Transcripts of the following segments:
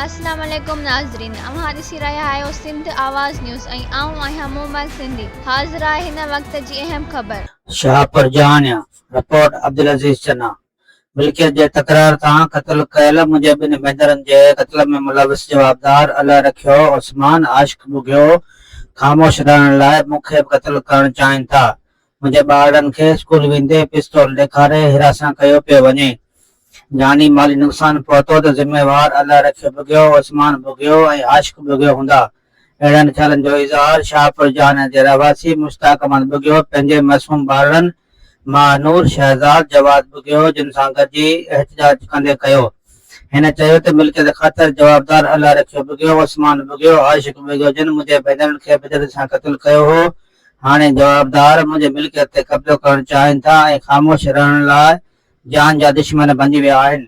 السلام عليڪم ناظرين اوهان ڏسي رهيا آهيو سنڌ آواز نيوز ۽ آئون آهيان مومل سنڌي حاضر آهي هن وقت جي اهم خبر. شاهپور جهانيان، رپورٽ عبدالعزيز چنا. ملڪيت جي تڪرار تان قتل ڪيل منهنجي ٻن ڀينرن جي قتل ۾ ملوث جوابدار الله رکيو عثمان عاشق ٻگهيو خاموش رهڻ لاء مون کي به قتل ڪرڻ چاهين ٿا منهنجي ٻارڙن کي اسڪول ويندي پستول ڏيکاري حراسان ڪيو پيو وڃي جاني مالي نقصان پهتو ته ذميوار الله رکيو ٻگهيو عثمان ٻگهيو ۽ عاشق ٻگهيو هوندا اهڙن خيالن جو اظهار شاهپور جهاني جي رهواسي مشتاق احمد ٻگهيو پنهنجي معصوم ٻارڙن مهانور شهزاد جواز ٻگهيو جن سان گڏجي احتجاج ڪندي ڪيو. هن چيو ته ملڪيت خاطر جوابدار الله رکيو ٻگهيو، عثمان ٻگهيو، عاشق ٻگهيو جن منهنجي ڀينرن کي بدعت سان قتل ڪيو هو، هاڻي جوابدار منهنجي ملڪيت تي قبضو ڪرڻ چاهين ٿا ۽ خاموش رهڻ لاء جان جا دشمن بنجي ويا آهن.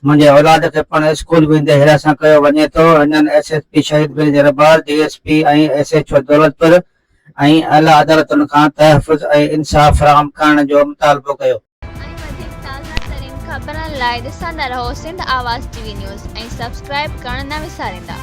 منهنجي اولاد کي پڻ اسڪول ويندي حراسان ڪيو وڃي ٿو، هنن ايس ايس پي شهيد برجي رباز، D S P ۽ S H O Daulatpur ۽ اعليٰ عدالتن کان تحفظ ۽ انصاف فراهم ڪرڻ جو مطالبو ڪيو. ۽ وڌيڪ تازا ترين خبرن لاء ڏسندا رهو سنڌ آواز ٽي وي نيوز ۽ سبسڪرائب ڪرڻ نه وساريندا.